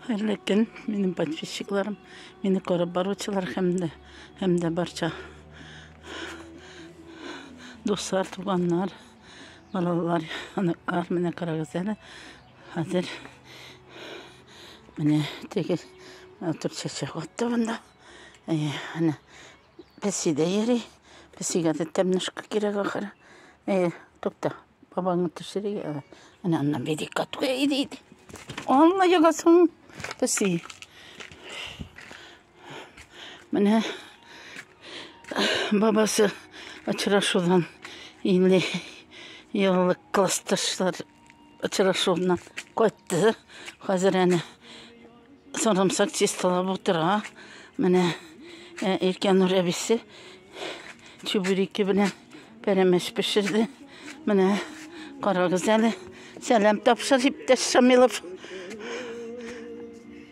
Хәерле көн, минем подписчикларым, мине карап баручылар һәм дә һәм дә барча дуслар, туганнар, балалар, оныклар, менә карагыз әле. Хәзер менә теге матур чәчәк атты монда. Әйе, әнә Песи дә йөри. Песигә дә тәмнышка кирәк ахыры. Әйе, тукта. Бабаңны төшерик әле. Менә аннан бирик катуга. Иди, иди. Алла ягасын. Песи. Менә бабасы очрашудан 50 еллык классташлар Очрашуыннан кайтты. Хәзер әнә сарымсак чисталап утыра. Менә ә, Иркәнур әбисе чүбереке белән пәрәмәч пешерде. Менә карагыз әле. Сәлам тапшыр, иптәш Шамилов.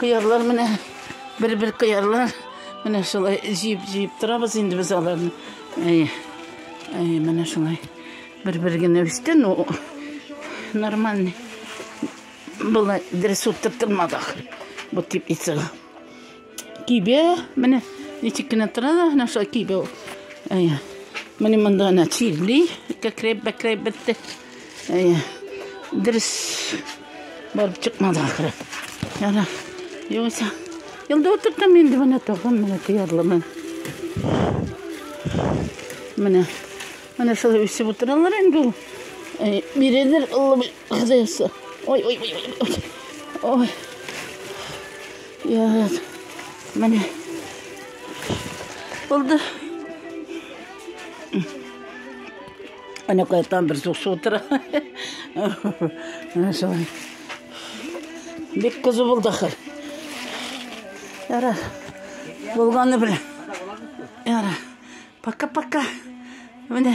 Кыярлар менә бер-бер кыярлар. Менә шулай җыеп-җыеп торабыз инде без аларны. Әйе. Әйе, менә шулай. Бер-бер генә үсте, но нормальный. Былай дөрес утыртылмадык. Бу теплицага. Кибә, менә ничек кенә тора да, менә шулай кибә ул. Әйе. Менә монда ана чирли, кәкрәп, бәкрәп бетте. Әйе. Дөрес барып чыкмады ахыры. Яра. Югыйсә. Елда утыртам инде менә тагын менә тыярлымын. Менә. Менә шулай үсеп утыралар инде ул. Әйе. Бирелер Алла Ой, ой, ой, ой. Ой. Яз. Менә. Булды. Ана кайтам бер суксы утыра. Менә шулай. Бик кызу булды ахыр. Яра. Булганы белән. Яра. Пока-пока. Менә.